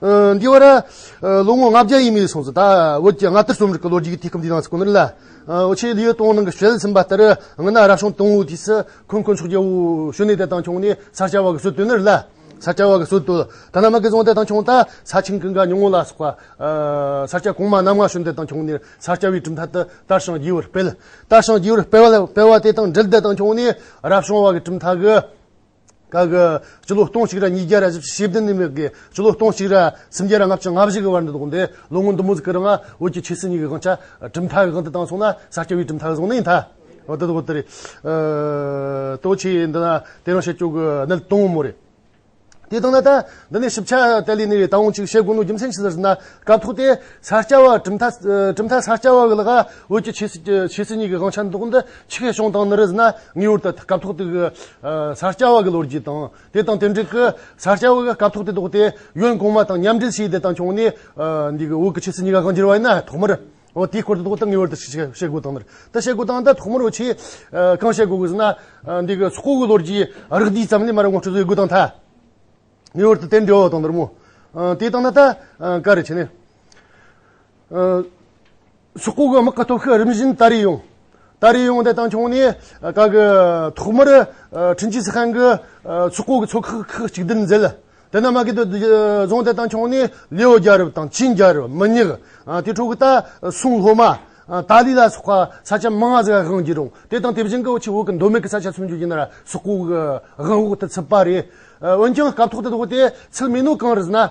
འདི་བར་ལོ་ངོ་ལྔ་བརྒྱ་ཡས་མས་སོང་ཚེ་ད་བོད་ཀྱི་སྔ་དར་རྩོམ་རིག་གི་ལོ་རྒྱུས་ཀྱི་དུས་སྐབས་འདིའི་ནང་ཚུད་ཁོ་ནར་ལའོ་ཆེའི་ལིའུ་ཏུང་ནང་གི་བཤད་ཟིན་པ་ལྟར་སྔོན་ན་རབ་བྱུང་དང་བོའི་དུས་སུ་ཁོན་ཁོན་ཕྱོགས་རྒྱལ་པོ་ཞོན་ནེ་དེ་དང་ཁྱུང་ནི་ས་སྐྱ་བ་གི་སྲོལ་གཏོད་ནར་ལ་ས་སྐྱ་བ་གི་སྲོལ་གཏོད་ཐ་ན་མ་ཀི་རྫོང་དེ་དང་ཁྱུང་རྟ་ས་ཆིང་གི་འགའ་ཉུང་ངུ་ལ་སོགས་པ་ས་སྐྱ་གོང་མ་རྣམ་ལྔ་ཞོན་དེ་དང་ཁྱུང་ནི་ས་སྐྱ་བའི་གྲུབ་མཐའ་དུ་དར་ཞིང་རྒྱས་པར་སྤེལ་དར་ཞིང་རྒྱས་པར་སྤེལ་བ་དེ་དང་འབྲེལ་དེ་དང་ཁྱུང་ནི་རབ་བྱུང་བ་གི་གྲུབ་མཐའ་གི། སྐབས་འདིར་སྤྱི་ལོ་སྟོང་གཅིག་རེ་གཉིས་བརྒྱ་རེ་བཞི་བཅུ་ཞེ་བདུན་ནས་མེད་དགོས། སྤྱི་ལོ་སྟོང་གཅིག་རེ་སུམ་བརྒྱ་རེ་ལྔ་བཅུ་ང་བཞི་གི་བར་འདི་དགོངས་ཏེ་ལོ་ངོ་མདུན་མོ་གཟིགས་ཀྱི་རེ་ང་བོད་ཀྱི་ཆོས་སྲིད་གཉིས་ཀྱི་དབང་ཆ་གྲུབ་མཐའ་གི་དབང་དུ་བཏང་སོང་ན་ས་སྐྱ་བའི་གྲུབ་མཐའ་གི་གཟུངས་ནི་མཐའ་འོ་དེ་དགོངས་ཏེ་རེད། ལྟོ་ཆེ་འདི་ན་དེ་རང་བཤད་སྐྱོང་གི་གནད་དོན་དངོས་མོ་རེད། དེ་དང་ན་ད་འདི་ནས་ཞིབ་ཆ་དེ་ལས་ནི་ད་འོང་ཅིག་བཤད་དགོས་ནོ་རྒྱུ་མཚན་ཅི་ཟེར་ཟེར་ན་སྐབས་ཐོག་དེ་ས་སྐྱ་བ་གྲུབ་མཐའ་གྲུབ་མཐའ་ས་སྐྱ་བ་གི་ལ་ང་བོད་ཀྱི་ཆོས་སྲིད་གཉིས་ཀྱི་དབང་ཆ་འདི་དགོངས་ཏེ་ཆེ་གེ་ཤོང་དང་ནི་རིས་ན་ངེས་བར་དུ་སྐབས་ཐོག་དེ་གའི་ས་སྐྱ་བ་གི་ལོ་རྒྱུས་དང་དེ་དང་དེ་འབྲེལ་གྱི་ས་སྐྱ་བ་གི་སྐབས་ཐོག་དེ་དོགས་ཏེ་གཡོན་གོང་མ་དང་མཉམ་འབྲེལ་བྱས་དེ་དང་བྱུང་ནས་འདི་གའི་འོག་གི་ཕྱི་སྲིད་གཉིས་ཀ་གང་བསྒྱུར་བ་ཡིན་ན་ཐོག་མར་འོ་དེའི་སྐོར་དུ་དོགས་ཏེ་ངེས་བར་དུ་བཤད་དགོས་དང་ནི་དེ་བཤད་དགོས་དང་ད་ཐོག་མར་འོ་ཆེ་གང་བཤད་དགོས་ཟེར་ན་འདི་གའི་ཚོགས་གོ་གི་ལོ་རྒྱུས་རགས་བསྡུས་ཙམ་ལས་མར་ངོ་སྤྲོད་བཟོས་དགོས་དང་ཐ་ངེས་བར་དུ་དེ་འབྲེལ་བ་དང་ནི་རི་མོ་དེ་དང་ནི་ད་ག་རེ་བྱས་ནས། ཤོག་ཁུག་གི་དམག་གི་སྟོབས་ཤུགས་རིམ་བཞིན་དར་རེ་ཡོང། དར་རེ་ཡོང་དེ་དང་ཆུང་ནས་དག་གི་ཐོག་མར་ཁྲིན་ཅི་སི་ཧན་གྱི་ཤོག་ཁུག་གི་ཚོགས་ཁག་ཁག་གཅིག་སྡུད་མཛད། དེ་ནས་མ་ཀི་ཏོ་རྫོང་དེ་དང་ཆུང་ནས་ལིའོ་རྒྱལ་རབས་དང་ཆིན་རྒྱལ་རབས་མི་ཉག་དེ་ཕྲུག་གི་ད་སུང་ལྷོ་མ། ཏཱ་ལི་ལ་སོགས་པ་ས་ཆ་མང་ཟས་དབང་བགྱིས་རུང་དེ་དང་དེ་བཞིན་གྱི་ཆུ་བོ་གི་མདོ་མེད་ཀྱི་ས་ཆ་སུམ་ཅུ་ཡིན་ན་ཤོག་ཁུག་གི་དབང་འོག་ཏུ་ཚུད་པ་རེད། འོན་ཀྱང་སྐབས་ཐོག་ཏུ་དེ་ཚུལ་མིན་ནོ་གང་རུ་ཟེར་ན།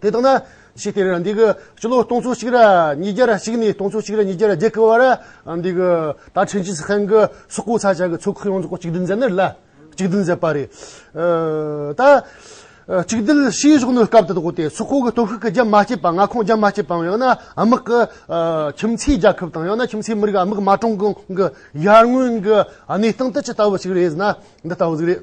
དེ་ལྟ་ན་ཕྱིས་དེར་འདི་གི་སྤྱི་ལོ་སྟོང་ཚོ་གཅིག་ར་ཉིས་བརྒྱ་ར་གཅིག་ནས་སྟོང་ཚོ་གཅིག་ར་ཉིས་བརྒྱ་ར་བརྒྱད་ཀི་བར་འདི་གི་ད་ཕྲན་ཅིན་ཧྥན་གི་སོག་པོ་ས་ཆ་གི་ཚོ་ཁག་ཡོངས་རྫོགས་གཅིག་སྒྲིལ་མཛད་ནི་ལ་གཅིག་སྒྲིལ་མཛད་པ་རེད། ད་གཅིག་སྒྲིལ་ཤེས་བཞོག་ནི་སྐབས་དེ་དག་སྟེ་སོག་པོ་གི་སྟོབས་ཤུགས་ཀི་རྒྱ་མ་བསྐྱེད་པ་མངའ་ཁོངས་རྒྱ་མ་བསྐྱེད་པའམ་ཡང་ན་དམག་གི་ཁྱིམ་མཚེས་རྒྱལ་ཁབ་དང་ཡང་ན་ཁྱིམ་མཚེས་མི་རིགས་དམག་མ་གྲོངས་གོང་གི་ཡར་སྔོན་གི་གནས་སྟངས་དེ་ཅི་ལྟ་བུ་ཞིག་རེད་ཟེར་ན་འདི་ལྟ་བུ་ཟིག་རེད།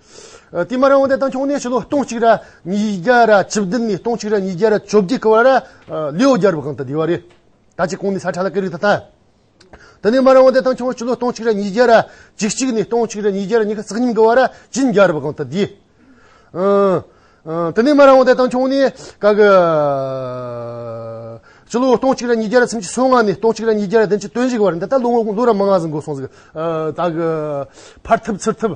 དེ་མ་རང་བ་དེ་དང་འཁྱོངས་ནས་ཕྱི་ལོ་སྟོང་གཅིག་ར་ཉིས་བརྒྱ་ར་བཅུ་བདུན་ནས་སྟོང་གཅིག་ར་ཉིས་བརྒྱ་ར་བཅོ་བརྒྱད་ཀྱི་བར་ལ་ལེའོ་རྒྱལ་པོ་གང་དུ་བསྡད་པ་རེད། ད་ཅི་གང་ནས་ས་ཁྲ་ལ་ཀི་རིག་ད་ལྟ། དེ་ནས་མ་རང་བ་དེ་དང་འཁྱོངས་ཕྱི་ལོ་སྟོང་གཅིག་ར་ཉིས་བརྒྱ་ར་བཅུ་གཅིག་ནས་སྟོང་གཅིག་ར་ཉིས་བརྒྱ་ར་ཉི་ཤུ་རྩ་གཉིས་ཀྱི་བར་ལ་ཅིན་རྒྱལ་པོ་གང་དུ་བསྡད། དེ་ནས་མ་རང་བ་དེ་དང་འཁྱོངས་ནས་ཀ་གི། ཕྱི་ལོ་སྟོང་གཅིག་ར་ཉིས་བརྒྱ་ར་ཚིམ་གཅིག་སོ་ལྔ་ནས་སྟོང་གཅིག་ར་ཉིས་བརྒྱ་ར་བདུན་ཅུ་དོན་བཞི་ཀྱི་བར་འདི་ལྟར་ལོ་ངོ་ལོ་ར་མང་ང་ཟིན་འགོར་སོང་ཟིག་ད་གི། ཕར་ཐུབ་ཚུར་ཐུབ།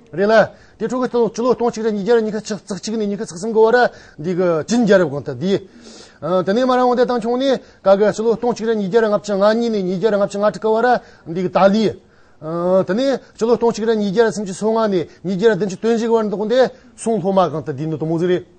རེད་ལ། དེ་ཕྲུ་གུ་སྟོང་སྤྱི་ལོ་སྟོང་གཅིག་རེ་ཉིས་བརྒྱ་རེ་ཉི་ཤུ་ཆིག་རྩ་གཅིག་ནས་ཉི་ཤུ་རྩ་གསུམ་གི་བར་འདི་གི་བྱིན་རྒྱལ་རབས་གོང་ལྟར་འདིའི། དེ་ནས་མ་རང་བདེ་ཐང་བྱུང་ནས་ག་གི་སྤྱི་ལོ་སྟོང་གཅིག་རེ་ཉིས་བརྒྱ་རེ་ལྔ་བཅུ་ང་གཉིས་ནས་ཉིས་བརྒྱ་རེ་ལྔ་བཅུ་ང་དྲུག་གི་བར་འདི་གི་ཏཱ་ལའི། དེ་ནས་སྤྱི་ལོ་སྟོང་གཅིག་རེ་ཉིས་བརྒྱ་རེ་སུམ་ཅུ་སོ་ལྔ་ནས་ཉིས་བརྒྱ་རེ་བདུན་ཅུ་དོན་བཞི་གི་བར་འདི་གོང་ཏེ་གསུང་ལྷོ་མ་གང་ལྟར་འདི་ནི་དོ་མོ་རྫུན་རེད།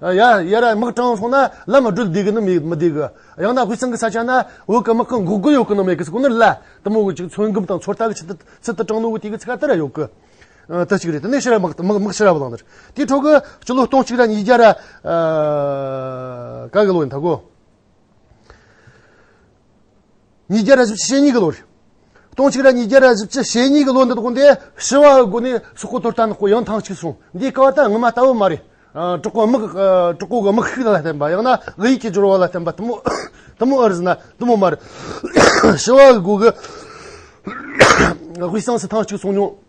ཡ་ར་དམག་དྲངས་སོང་ན་བླ་མ་སྒྲུབ་བསྡད་གི་ནི་མི་བསྡད་གི། ཡང་ན་དབུས་གཙང་གི་ས་ཆ་ན་འོད་གི་དམག་གི་འགོག་རྒོལ་ཡོད་གི་ནི་མེད་གི་སྐོར་ནི་ལ་དུ་མོ་གཅིག་ཚོད་འགུམ་དང་ཚོད་ལྟ་གི་ཆེད་དུ་ཚུལ་དུ་དྲངས་འདུག་དེ་གི་ཚིག་ཁ་དེ་ར་ཡོད་གི། དེ་གཅིག་རེད་དེ་ནས་ཕྱི་ར་དམག་དམག་ཕྱི་ར་བླངས་དེར་དེའི་འཕྲོ་གི་སྤྱི་ལོ་སྟོང་གཅིག་ར་ཉིས་བརྒྱ་ར་ག་གི་ལོ་ཡིན་ད་གོ། ཉིས་བརྒྱ་རེ་བཞི་ཕྱི་ཤེས་གཉིས་ཀྱི་ལོ་རེད། སྟོང་ཕྱུགས་ར་ཉིས་བརྒྱ་རེ་བཞི་ཕྱི་ཤེས་གཉིས་ཀྱི་ལོ་འདི་དགོན་སྡེ་ཞི་བ་དགོན་ནས་སོག་པོ་དོར་ཐང་དཀོན་ཡང་ཐང་གཅིག་སོང་འདིའི་ཀ་བ་ད་ངོ་མ་ལྟ་བུ་མ་རེད། གྲོགས་པོ་དམག་གྲོགས་པོ་གི་དམག་ཤུལ་ལ་བརྟེན་པ་ཡང་ན་བོད་ཡིག་གི་སྦྱོར་བ་ལ་བརྟེན་པ་དུ་མོ་དུ་མོ་ཨོ་རེད་ཟེར་ན་དུ་མོ་མ་རེད། ཞི་བ་དགོན་གྱི་དབུས་གཙང་སུ་ཐང་གཅིག་སོང་མྱོང།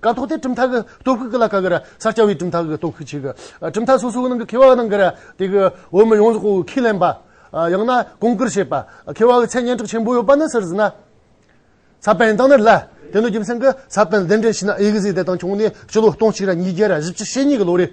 ཀ་ཐོག་དེ་གྲུབ་མཐའ་གི་སྟོབས་ཤུགས་ཀྱི་ལ་ཀ་གི་ར་ས་སྐྱ་བའི་གྲུབ་མཐའ་གི་སྟོབས་ཤུགས་ཆེ་གི། གྲུབ་མཐའ་སོ་སོའི་ནང་གི་མཁས་པ་རྣམས་ཀྱི་ར་དེ་གི་འོས་མི་ཡོངས་རྫོགས་ཁས་ལེན་པ། ཡང་ན་གོང་བཀུར་བྱེད་པ། མཁས་པ་གི་མཚན་སྙན་གྲགས་ཆེན་པོ་ཡོད་པ་ནི་ཟུར་ཟི་ན། ས་པཎ་དང་ནི་རི་ལ། དེ་ནི་རྒྱུ་མཚན་གྱི་ས་པཎ་གདན་འདྲེན་བྱས་ན་ཨེ་ཀི་ཟི་དེ་དང་བྱུང་ནས་སྤྱི་ལོ་སྟོང་གཅིག་ར་ཉིས་བརྒྱ་ར་བཞི་བཅུ་ཞེ་གཉིས་ཀྱི་ལོ་རེད།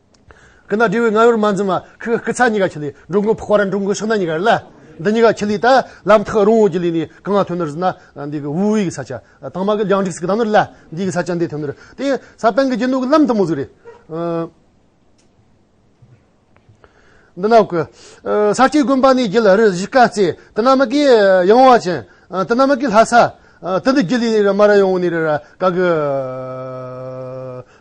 ཀི་ན་དྲི་བའི་རྔ་བོར་མ་འཛིན་པ། ཁི་ཁི་ཚ་གཉིས་ཀ་ཁྱི་ལི། འགྲོ་མགོན་ཕོག་པ་ར་འགྲོ་མགོན་ཕྱག་ན་གཉིས་ཀ་ར་ལ། འདི་གཉིས་ཀ་ཁྱི་ལི་ད། ལམ་ཐག་རོང་བོ་ཀྱི་ལི་ནི། གང་ང་ཐོན་ནོར་ཟིན་ན། འདི་གི་དབུས་ཀྱི་ས་ཆ། དྭངས་མ་གི་རྒྱང་འགྲིགས་སི་གི་དྭངས་ནོར་ལ། འདི་གི་ས་ཆ་འདི་ཐོན་ནོར། དེ་ས་སྤེན་གི་རྒྱུ་ནོར་གི་ལམ་དུ་མོ་ཟིག་རེད། འདི་ན་གོ། ས་སྐྱའི་དགོན་པ་ནི་རྒྱུད་ལ་རུ་བཞི་དཀའ་བརྩེ། དེ་ན་མི་གི་ཡང་བ་ཅན། དེ་ན་མི་གི་ལྷ་ས། དེ་འདི་རྒྱུད་ལི་ནི་ར་མ་ར་ཡོང་བོ་ནི་ར་ར། ག་གི།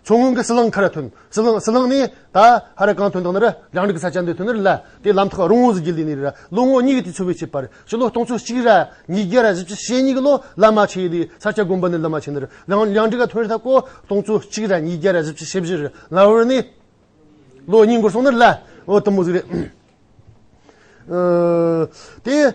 མཚོ་སྔོན་གི་སི་ལང་ཁ་ར་ཐོན། སྲིད་བླང་སྲིད་བླང་ནི། ད་ཧ་ར་གང་དོན་དག་ནི། རང་རིག་གི་ས་ཆ་འདི་དོན་ནི་ལ། དེའི་ལམ་ཐག་རོང་བོ་གཟི་བརྗིད་ལས་ནི་ར། ལོ་ངོ་གཉིས་ཀྱི་དུས་ཚོད་བེད་སྤྱད་པར། སྤྱི་ལོ་སྟོང་ཚོ་གཅིག་ར། ཉིས་བརྒྱ་ར་བཞི་བཅུ་ཞེ་གཉིས་ཀྱི་ལོ། བླ་མ་ཆེ་ཡི་ལི། ས་སྐྱ་དགོན་པ་ནི་བླ་མ་ཆེ་ནི་ར། ལང་ལང་འདྲི་ག་ཐོན་རི་ཐ་ཀོ། སྟོང་ཚོ་གཅིག་ར་ཉིས་བརྒྱ་ར་བཞི་བཅུ་ཞེ་བཞི་རི། ལ་བོར་ནི། ལོ་གཉིས་འགོར་སོང་ནི་ལ། འོ་དུམ་བུ་གཟིགས་རེ། དེ།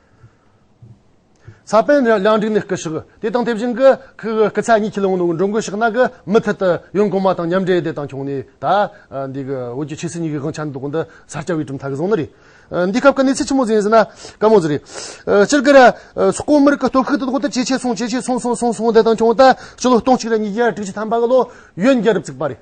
ས་པཎ་གླིང་སྒྲིག་ནི་སྐུ་ཞིག་དེ་དང་དེ་བཞིན་གྱི་སྐུ་ཚད་གཉིས་ཁས་ལེན་གནང་འགྲོ་འགོ་ཞིག་གནང་གི་མུ་མཐུད་དུ་ཡོན་གོང་མ་དང་མཉམ་འབྲེལ་བདེ་ཐང་ཁྱུང་ནས་ད་འདི་གི་བོད་ཀྱི་ཆོས་སྲིད་གཉིས་ཀྱི་དབང་ཆ་འདི་དག་འདི་ས་སྐྱ་བའི་གྲུབ་མཐའ་གི་བཟང་ནི་རེད། འདི་སྐབས་ཀྱི་གནས་ཚུལ་ཆེན་མོ་ཟིན་ཟིན་ན་དཀའ་མོ་ཟིག་རེད། སྤྱིར་གྱི་སུ་ཀོ་མིར་གྱི་སྟོད་ཁུག་དེ་དག་ཏུ་ཇེ་ཆེ་སོང་ཇེ་ཆེ་སོང་སོང་སོང་སོང་བདེ་ཐང་ཁྱུང་ད་སྤྱི་ལོ་སྟོང་གཅིག་རེ་གཉིས་བརྒྱ་དྲུག་ཅུ་ཐམ་པ་གི་ལོ་ཡོན་རྒྱལ་རབས་བཙུགས་པ་རེད།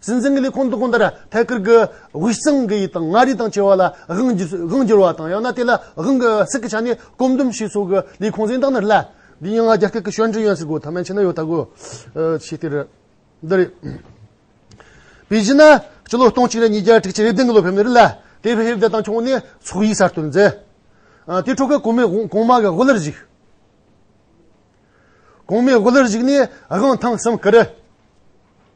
སྲིད་འཛིན་གྱི་ལས་ཁུངས་དུ་གང་ལྟར་ཐད་ཀར་གྱི་དབུས་གཙང་གི་ཡིག་དང་མངའ་རིས་དང་བཅས་བ་ལ་དབང་བསྒྱུར་བ་དང་ཡང་ན་དེ་ལ་དབང་གི་སྲིད་ཀྱི་ཆ་ནས་སྐོམ་འདུམ་ཞིག་སོགས་ཀྱི་ལས་ཁུངས་གཟེངས་རྟགས་ནི་སླད། འདི་ཡང་རྒྱ་སྐད་ཀྱི་ཤོད་འབྲི་ཡོན་སྲིད་སྒོ་ཐ་མའི་ཕྱི་ན་ཡོད་ལྟ་གོ། ཞེས་དེ་རེད། འདི་རེད། དཔེ་གཞི་ན། སྤྱི་ལོ་སྟོང་གཅིག་རེ་གཉིས་བརྒྱ་དྲུག་ཅུ་རེ་བདུན་གྱི་ལོ་ཕེབས་ནས་རི་ལ་དེབ་ཧེ་བདེ་དང་ཁྱུང་ནས་ཚོགས་ཡིག་གསར་གཏོད་མཛད། དེའི་ཁྲོད་ཀྱི་གོང་མའི་གོང་མ་གི་དབུ་བླར་གཞིགས། གོང་མའི་དབུ་བླར་གཞིགས་ནས་དབང་ཐང་གསུམ་བསྐུར།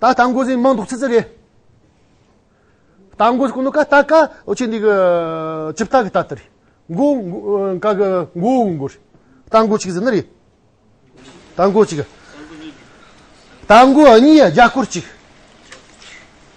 ད་ལྟ་འགོ་ཟིན་མང་འདུག་ཚི་ཚི་རེད། ད་འགོ་ཟིན་ཀུན་ནོ་ཀ་ད་ཀ་ཨོ་ཆེ་འདི་གི་ཇི་ལྟ་གི་ད་ལྟ་རེད། འགོ་འགོ་ཀ་གི་འགོ་འོ་འགོ་རེད། ད་འགོ་གཅིག་ཟིན་ན་རེད། ད་འགོ་གཅིག། ད་འགོ་གཉིས་རྒྱ་སྐོར་གཅིག།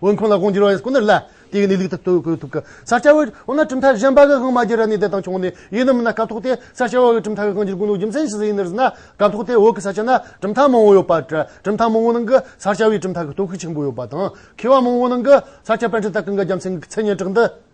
འོན་ཁོང་ལ་དབང་བསྒྱུར་བ་ཡིན་སྐུ་ནི་ལ་དེ་ནི་ལུག་ཏུ་བསྟོད་དགོས་ཐུགས། ས་སྐྱ་བོའི་འོ་ན་གྲུབ་མཐའ་གཞན་པ་གི་དབང་མ་བསྒྱུར་ར་ནི་དེ་དང་ཆུང་ནས་ཡིན་ནམ་མིན་ན་སྐབས་ཐོག་དེ་ས་སྐྱ་བོའི་གྲུབ་མཐའ་གི་དབང་བསྒྱུར་དགོས་ལུགས་རྒྱུ་མཚན་ཇི་སྲིད་ཡིན་ནི་ཟེར་ན་སྐབས་ཐོག་དེ་འོག་གི་ས་སྐྱ་ན་གྲུབ་མཐའ་མང་བོ་ཡོད་པ་འདྲ་གྲུབ་མཐའ་མང་བོའི་ནང་གི་ས་སྐྱ་བོའི་གྲུབ་མཐའ་གི་སྟོབས་ཤུགས་ཆེན་པོ་ཡོད་པ་དང་མཁས་བ་མང་བོའི་ནང་གི་ས་སྐྱ་པཎ་ཆེན་ལྟ་གི་འགའ་རྒྱ་མཚན་གྱི་མཚན་སྙན་གྲགས་འདི།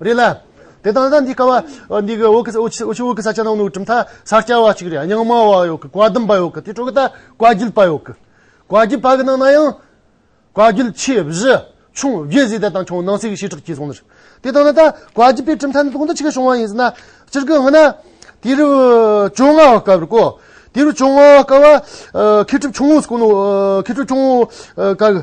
རེད་ལ། དེ་དང་ལྡན་འདི་ཀ་བ་འདི་གི་འོག་གི་འོག་ཕྱི་འོག་གི་ས་ཆ་ནང་ནུ་གྲིམ་ཐ་ས་སྐྱ་བ་ཅིག་རེད་རྙིང་མ་བ་ཡོད་གི་བཀའ་བསྡུམ་པ་ཡོད་གི་དེ་ཕྲུག་གི་ད་བཀའ་བརྒྱུད་པ་ཡོད་གི། བཀའ་བརྒྱུད་པ་གི་ནང་ན་ཡང། བཀའ་བརྒྱུད་ཆེ་བཞི་ཆུང་བརྒྱད་བཟོས་ད་དང་ཁྱོང་ནང་སྲིད་ཀྱི་བྱེ་བྲག་གྱིས་སོང་ནི་རེད། དེ་དང་ན་ད་བཀའ་བརྒྱུད་པའི་གྲིམ་ཐ་ནི་དོག་འདི་ཅི་གི་བྱུང་བ་ཡིན་ཟེར་ན། སྤྱིར་གི་ང་ན། དེ་རུ་བཅོ་ལྔ་བ་བཀའ་བར་གོ། དེ་རུ་བཅོ་ལྔ་བ་བཀའ་བ། མཁས་གྲུབ་ཆུང་ངུ་སྐུ་ནུ་མཁས་གྲུབ་ཆུང་ངུ་བཀའ་གི།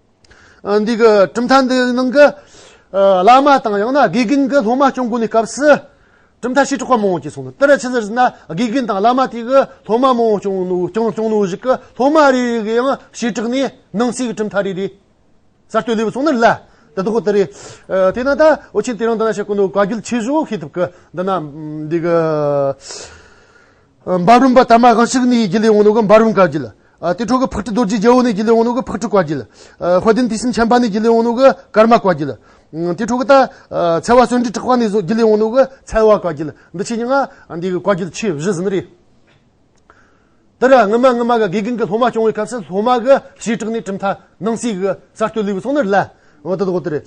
འདིའི་གྲུབ་མཐའ་འདི་ནང་གི་བླ་མ་དང་ཡང་ན་དགེ་རྒན་གྱི་སློབ་མ་སྐྱོང་དགོས་ནས་སྐབས་སུ་གྲུབ་མཐའ་བྱེ་བྲག་པ་མང་བོ་བཅས་སོང་ལ་དེར་ཕྱི་ཟེར་ན་དགེ་རྒན་དང་བླ་མ་དེ་གའི་སློབ་མ་མང་བོ་སྐྱོང་ནོར་གཞིག་གི་སློབ་མ་རེ་རེ་གི་ཡང་བྱེ་བྲག་ནས་ནང་གསེས་ཀྱི་གྲུབ་མཐའ་རེ་རེ་གསར་གཏོད་ལེ་བུ་སོང་ན་ལ་དེ་དག་དེ་རེད་དེས་ན་ད་འོ་ཆེན་དེ་རིང་འདི་ན་བྱེད་དགོས་འདུག་བཀའ་རྒྱུད་ཆེ་བཞུགས་ཤེས་ཐུབ་ཀི་འདི་ན་འདི་གི་འབའ་རུམ་པ་དམ་པ་གང་ཞིག་ནི་ཡི་གེ་ལས་འོངས་ནོ་གི་འབའ་རུམ་བཀའ་བརྒྱུད། དེ་འཕྲོག་གི་ཕག་ཁྲི་རྡོ་རྗེའི་རྒྱལ་པོ་ནི་ཡི་གེ་ལས་འོངས་ནོ་གི་ཕག་ཁྲི་བཀའ་བརྒྱུད། དཔལ་ལྡན་དུས་གསུམ་ཆེན་པ་ནི་ཡི་གེ་ལས་འོངས་ནོ་གི་ཀརྨ་བཀའ་བརྒྱུད། དེ་འཕྲོག་གི་ད་ཚལ་བ་གསོན་འདྲིས་དྲག་པ་ནི་ཡི་གེ་ལས་འོངས་ནོ་གི་ཚལ་བ་བཀའ་བརྒྱུད། འདི་ཕྱི་ཉིང་ང་འདིའི་བཀའ་བརྒྱུད་ཆོས་བཞི་ཟིན་རེད། འདིར་སྔོན་མ་སྔོན་མ་གི་དགེ་རྒན་གྱི་སློབ་མ་སྐྱོང་བའི་སྐབས་སུ་སློབ་མ་གི་ཞེ་དྲག་ནི་གྲུབ་མཐའ་སྣང་སྲིད་གི་གསར་གཏོད་ལུས་པའི་ཚོགས་ནི་རླན། འོ་དོ་དོ་དོ་རེད།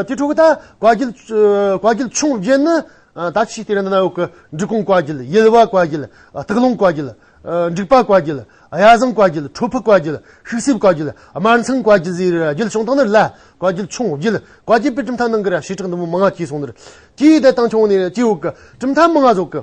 དེ་འཕྲོག་གི་ད་བཀའ་བརྒྱུད་བཀའ་བརྒྱུད་ཆུང་བརྒྱད་ནི། ད་ཕྱིས་དེ་རིང་གནའ་བོའི་བཀའ་འབྲི་གུང་བཀའ་བརྒྱུད་གཡུལ་བ་བཀའ་བརྒྱུད་སྟག་ལུང་བཀའ་བརྒྱུད་འབྲུག་པ་བཀའ་བརྒྱུད་གཡའ་བཟང་བཀའ་བརྒྱུད་ཁྲོ་ཕུ་བཀའ་བརྒྱུད་ཤིག་སྲིབ་བཀའ་བརྒྱུད་དམར་མཚང་བཀའ་བརྒྱུད་ཟེར་བའི་རྒྱུད་བྱུང་ཐོག་ནས་ལ་བཀའ་བརྒྱུད་ཆུང་བརྒྱུད་བཀའ་བརྒྱུད་པའི་གྲུབ་མཐའ་ནང་གི་ར་ཞེ་དྲག་འདི་མོ་མང་ཀྱིས་གསུངས་འདིར་སྐྱེས་ཡུལ་བསྟན་སྟངས་ཆུང་བ་ནས་སྐྱེས་བུ་གྲུབ་མཐའ་མང་ང་ཟོག་གི།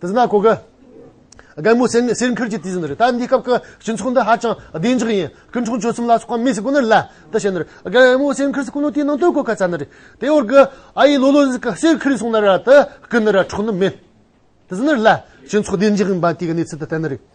དེ་ཟླ་གོ་གི། རྒན་མོ་སེར་སེར་འཁུར་གྱི་དུས་ཟིན་རེད་ད་འདི་སྐབས་ཀྱི་སྤྱི་ཚོགས་འདི་ཧ་ཅང་བདེ་འཇགས་ཡིན་སྐུ་འཁྲུངས་ཆོས་གསུམ་ལ་སོགས་པ་མི་ཞིག་གོ་ནི་ལ་དེ་བྱས་ནི་རེད་རྒན་མོ་སེར་འཁུར་སེར་སྐུ་ནོར་དེའི་ནང་དོན་གོ་ག་ཚ་ནི་རེད་དེ་བར་གི་ཨ་ཡེ་ལོ་ལོ་ཟིག་གི་སེར་འཁུར་སོང་ན་ར་དེ་སྐུ་ནི་ར་འཕྲོག་ནི་མེད་དེ་ཟིན་ནི་ལ་སྤྱི་ཚོགས་བདེ་འཇགས་ཡིན་པ་དེ་གི་གནས་ཚུལ་དེ་བསྟན་ནི་རེད།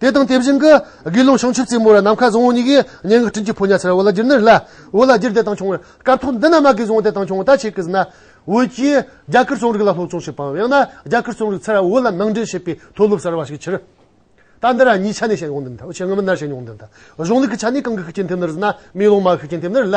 དེ་དང་དེ་བཞིན་གྱི་དགེ་སློང་བྱང་ཆུབ་རྩེ་མོ་ར་ནམ་མཁའ་བཟང་བོ་གཉིས་ཀྱིས་སྙན་ངག་སྤྲིན་གྱི་ཕོ་ཉར་ཕྱར་བ་ལ་སྒྱུར་ནི་རེ་ལ། འོད་ལ་སྒྱུར་དེ་དང་བྱུང་བའི་སྐབས་ཐོག་འདི་ན་མ་གིའི་གཟུངས་དེ་དང་བྱུང་བ་ད་ཆེ་གི་གཟིགས་ན། འོད་ཀྱིས་རྒྱ་གར་རྩོམ་རིག་ལ་སློབ་སྦྱོང་བྱེད་པའམ་ཡང་ན་རྒྱ་གར་རྩོམ་རིག་ཚེ་རབས་འོད་ལ་ནང་འདྲེན་བྱེད་པའི་མཐོ་སློབ་གསར་བ་ཞིག་ཕྱིར། ད་འདི་ར་གཉིས་ཆ་ནས་བཤད་ཡོང་དུས་མཐའ་བྱེད་ངམ་ནར་བཤད་མྱོང་དུས་མཐའ་གཞུང་ལུགས་ཀྱི་ཆ་ནས་གང་གི་ཤུགས་རྐྱེན་ཐེབས་ནི་རེ་ཟེར་ན་དམེ་ལོང་མ་ཤུགས་རྐྱེན་ཐེབས་ནི་རེ་ལ།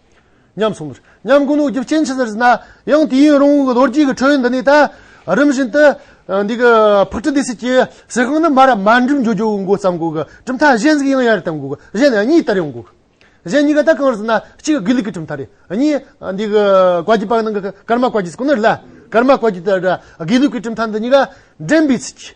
ཉམས་སོང་གིས་ཉམས་དགུ་ནོར་བརྒྱུད་སྐྱེ་འཆི་ཟེར་ཟིན་ན་ཡང་དུས་ཡུན་རིང་བོ་གི་ལོ་རྒྱུས་ཀྱི་ཁྲོད་འདི་ནས་ད་རིམ་བཞིན་དུ་འདི་གི་ཕག་གྲི་འདི་སྲིད་ཀྱི་སྲིད་དབང་ནི་མ་རབས་མར་འགྲིམ་འགྲོ་འགྱུར་འགོ་བརྩམས་གོ་གི་གྲུབ་མཐའ་གཞན་ཟིག་ཡང་ཡར་བཏང་གོ་གི་གཞན་ནི་གཉིས་ལྟར་ཡོང་གོ་གི་གཞན་གཉིས་ཀ་ད་གང་ཟིན་ན་གཅིག་དགེ་ལུགས་ཀྱི་གྲུབ་མཐའ་རེད་གཉིས་འདི་གི་བཀའ་བརྒྱུད་པ་ནང་གི་ཀརྨ་བཀའ་བརྒྱུད་ཀྱི་ནི་ལ་ཀརྨ་བཀའ་བརྒྱུད་དང་དགེ་ལུགས་ཀྱི་གྲུབ་མཐའ་འདི་གཉིས་ཀ་འགྲན་པའི་ཚུལ་གྱིས་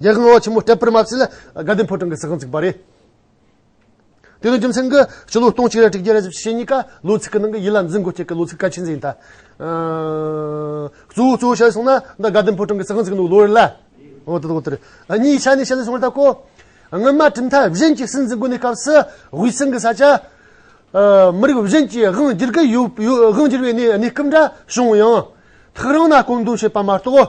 རྒྱལ་ཁང་ཆེན་མོ་སྤྲད་པར་མ་ཚད་ལ་དགའ་ལྡན་ཕོ་བྲང་གི་ཟི་ཁང་བརྩིགས་པ་རེད། དེ་ནི་རྒྱུ་མཚན་གྱིས་སྤྱི་ལོ་སྟོང་གཅིག་རེ་དྲུག་བརྒྱ་རེ་བཞི་ཞེ་གཉིས་ཀ་ལོ་ཚིགས་ཀྱི་ནང་གི་ཡིད་ལ་འཛིན་དགོས་ཁྱད་ཀྱི་ལོ་ཚིགས་གལ་ཆེན་ཟིན་ཐལ། གཙོ་བོ་གཙོ་བོ་བཤད་སོང་ན་འདི་དགའ་ལྡན་ཕོ་བྲང་གི་ཟི་ཁང་བརྩིགས་འདུག་ལོ་རེ་ལ། འོ་དེ་དག་རེད། གཉིས་ཆ་ནས་བཤད་ན་སོང་བ་ལྟ་སྐོར། སྔོན་མ་གྲུབ་མཐའ་གཞན་གྱི་སྲིད་འཛིན་དགོན་གནས་སྐབས་སུ་དབུས་གཙང་གི་ས་ཆ། མི་རིགས་གཞན་གྱིས་དབང་བསྒྱུར་གྱི་ཡོད་དབང་བསྒྱུར་བའི་གནས་སྐབས་འདྲ་བྱུང་ཡང། ཐག་རིང་ན་བཀོད་འདོམས་བྱེད་པ་མ་གཏོགས།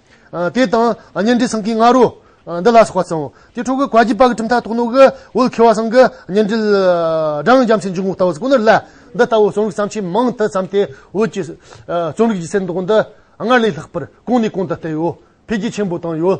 དེ་དང་གཉེན་འབྲེལ་སངས་ཀྱི་ང་རོ། འདི་ལ་སོགས་པ་ཚང། དེ་འཕྲོག་གི་བཀའ་རྒྱས་དཔག་གི་ཁྲིམས་མཐའ་རྟོགས་ནོ། འོད་འཁྱིལ་བ་སངས་ཀྱི་གཉེན་འབྲེལ། སྦྲང་རྒྱ་མཚོའི་འཇུག་ངོགས་ལྟ་བུ་སྐུ་ནི་བརླ། འདི་ལྟ་བུ་རྩོམ་རིག་བརྩམས་ཆོས་མང་དུ་བརྩམས་ཏེ་བོད་ཀྱི། རྩོམ་རིག་གི་གསེར་མདོག་འདི། སྔར་ལས་ལྷག་པར་གོང་ནས་གོང་དུ་སྤེལ་ཡོད། འཕེལ་རྒྱས་ཆེན་པོ་བཏང་ཡོད།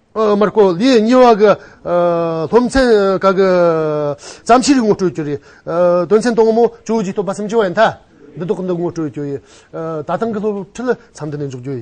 མར་ཀོ་ལིའི་སྙི་བ་གི་སློབ་ཚན་ཁག་གི་བརྩམས་ཆོས་ངོ་སྤྲོད་རྒྱུ་རེད། དོན་ཚན་དང་མོ་བཅུ་བཞི་སྟོང་པ་སུམ་ཅུ་བ་ཡན་དྷ་འདི་དག་གི་འདི་ངོ་སྤྲོད་རྒྱུ་ཡིན། ད་ཐེངས་ཀྱི་སློབ་ཁྲིད་ལ་མཚམས་འདི་ནས་འཇོག་རྒྱུ་ཡིན།